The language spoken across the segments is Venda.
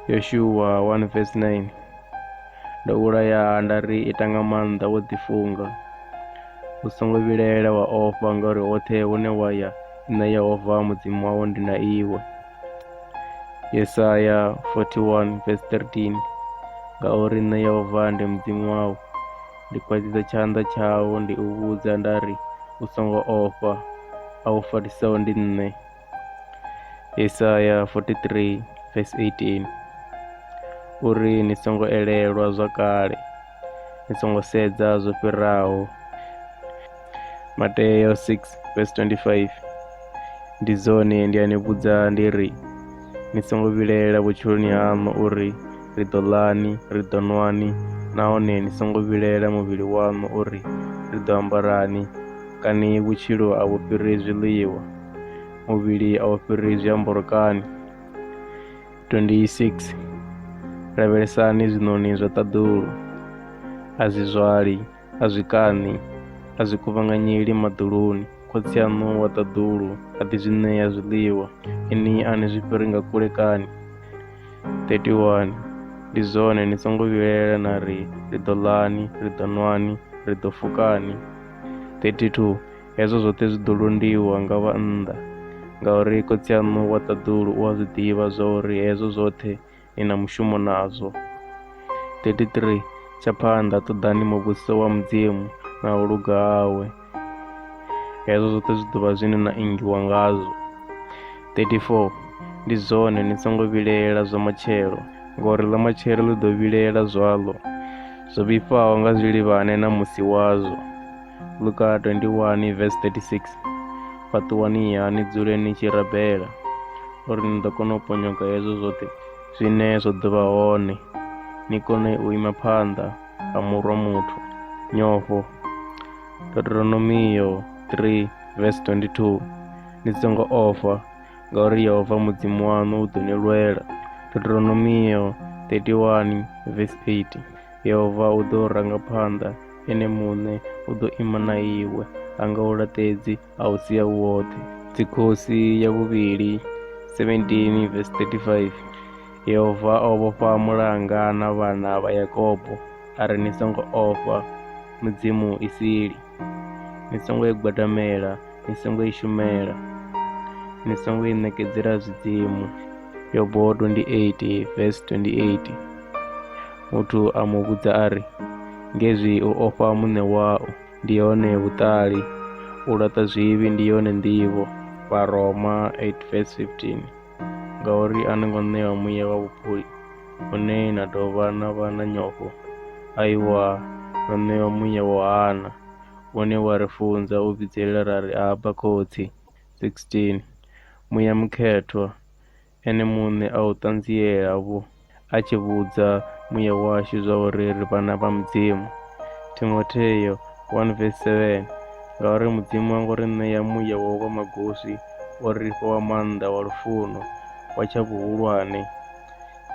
yoshuwa 1 verse 9 ndo vhulaya nda ri ita nga maanḓa wo ḓifunga u songo vhilaela wa ofha ngauri hoṱhe hune wa ya nṋe yehova mudzimu wawo ndi na iwe yesaya 41 verse 13 ngauri nṋe yehova ndi mudzimu wawu Ndi kwazisa tshanḓa tshau ndi u vhudza nda ri, U songo ofha, a u farisaho ndi nṋe. Yesaya 43 verse 18 uri ni songo elelwa zwa kale, ni songo sedza zwo fhiraho. Mateo 6 verse 25 ndi dzone ndi a ni vhudza ndi ri ni songo vhilaela vhutshiloni haṋu uri ri ḓo ḽani ri ḓo nwani nahone ni songo vhilaela muvhili waṋu uri ri ḓo ambarani kani vhutshilo a vhu fhiri zwiḽiwa muvhili a u fhiri zwiambaro kani 26 lavhelesani zwiṋoni zwa ṱaḓulu a zwi zwali A zwi kaṋi, a zwi kuvhanganyeli maḓuluni. Khotsi aṋu wa ṱaḓulu a ḓi zwi ṋea zwiḽiwa, inwi a ni zwi fhiri nga kule kani? 31 Ndi zwone, ni songo vhilaela na ri, Ri ḓo ḽani, ri ḓo nwani, ri ḓo fukani? 32 Hezwo zwoṱhe zwi ḓo londiwa nga vhannḓa, ngauri Khotsi aṋu wa ṱaḓulu u a zwi ḓivha zwa uri hezwo zwoṱhe ni na mushumo nazwo. 33 tsha phanḓa ṱoḓani muvhuso wa mudzimu na u luga hawe hezwo zwoṱhe zwi ḓovha zwine na ingiwa ngazwo 34 ndi zwone ni songo vhilela zwa matshelo ngori ḽa matshelo ḽi ḓo vhilela zwaḽo zwo vhifhaho nga zwilivhane na musi wazwo luka 21 vs 36 fhaṱuwani ha ni dzule ni tshi rabela uri ni ḓo kona u ponyoka hezwo zwoṱhe zwine zwo ḓo vha hone ni kone u ima phanḓa ha murwa muthu nyofho deuteronomiyo 3 vs 22 ni songo ofha ngauri yehova mudzimu waṋu u ḓo ni lwela deuteronomiyo 31 vs 8 yehova u ḓo ranga phanḓa ene muṋe u ḓo ima na iwe a nga u laṱedzi a u sia u woṱhe dzikhosi ya vhuvhili 17 vs 35 yehova o vhofha mulanga na vhana vha yakobo a ri ni songo ofha mudzimu i sili ni songo i gwadamela ni songo i shumela ni songo i ṋekedzela zwidzimu yobo 28 vs 28 Muthu a mu vhudza a ri, Ngezwi u ofha muṋe wau ndi hone vhuṱali, u laṱa zwivhi ndi yone nḓivho. Vharoma 8 verse 15 Ngauri a no ngo ṋewa muya wa vhupuli, une na dovha na vha na nyofho, aiwa, no ṋewa muya wo hana, une wa ri funza u vhidzelela ra ri, Abba, Khotsi! 16 Muya mukhethwa Ene muṋe a u ṱanziela-vho, a tshi vhudza muya washu zwauri ri vhana vha Mudzimu. Timotheo 1 vesi 7 Ngauri Mudzimu ha ngo ri ṋea muya wa u vha magoswi, o ri fha wa maanḓa, wa lufuno, wa tsha vhuhulwane.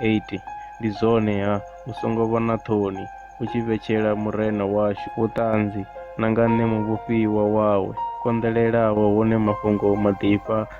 8 Ndi zwone-ha, u songo vha na ṱhoni, u tshi vhetshela Murena washu vhuṱanzi, na nga nṋe muvhofhiwa wawe, konḓelelaho hune mafhungo maḓifha